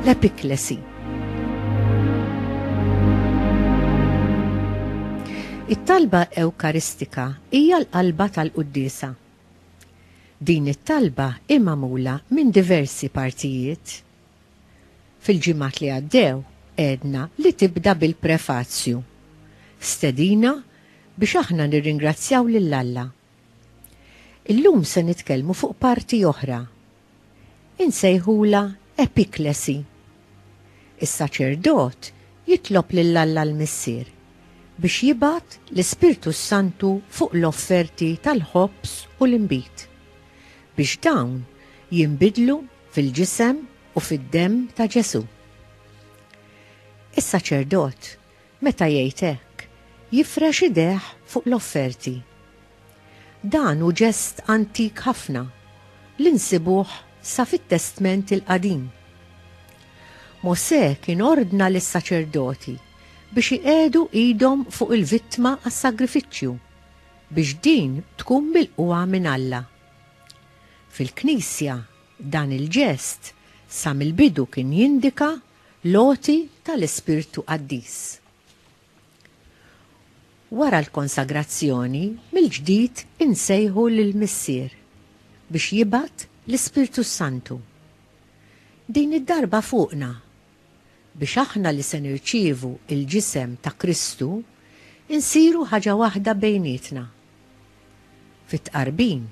L-epiklesi It-talba ewkaristika hija l-qalba tal-quddisa. Din it-talba hi magħmula minn diversi partijiet. Fil-ġimgħat li għaddew għedna li tibda bil-prefazju, stedina biex aħna nirringrazzjaw lil Alla. Illum se nitkellmu fuq parti oħra. Insejħulha epiklesi. Is-saċerdot jitlob lil Alla l-Missier biex jibgħat l-Ispirtu s-Santu fuq l-offerti tal-ħobż u l-inbid, biex dawn jinbidlu fil-ġisem u fid-demm ta' Ġesù. Is-saċerdot, meta jgħid hekk, jifrex idejh fuq l-offerti. Dan hu ġest antik ħafna li nsibuh sa fit-Testment il-Qadim. Mosè kien ordna lis-saċerdoti biex iqiegħdu idhom fuq il-vittma għas-sagrifiċċju biex din tkun milqugħa minn Alla. Fil-Knisja, dan il-ġest sa mill-bidu kien jindika l-għoti tal-ispirtu qaddis. Wara l-konsagrazzjoni, mill-ġdid insejħu lill-Missier biex jibgħat l-Ispirtu s-Santu. Din id-darba fuqna biex aħna li se nirċievu l-ġisem ta' Kristu nsiru ħaġa waħda bejnietna. Fit-Tqarbin,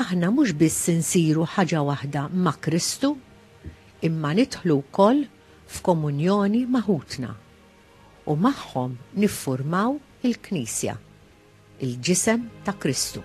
aħna mhux biss insiru ħaġa waħda ma' Kristu, imma nidħlu wkoll f'komunjoni ma' ħutna, u magħhom niffurmaw il-Knisja, il-ġisem ta' Kristu.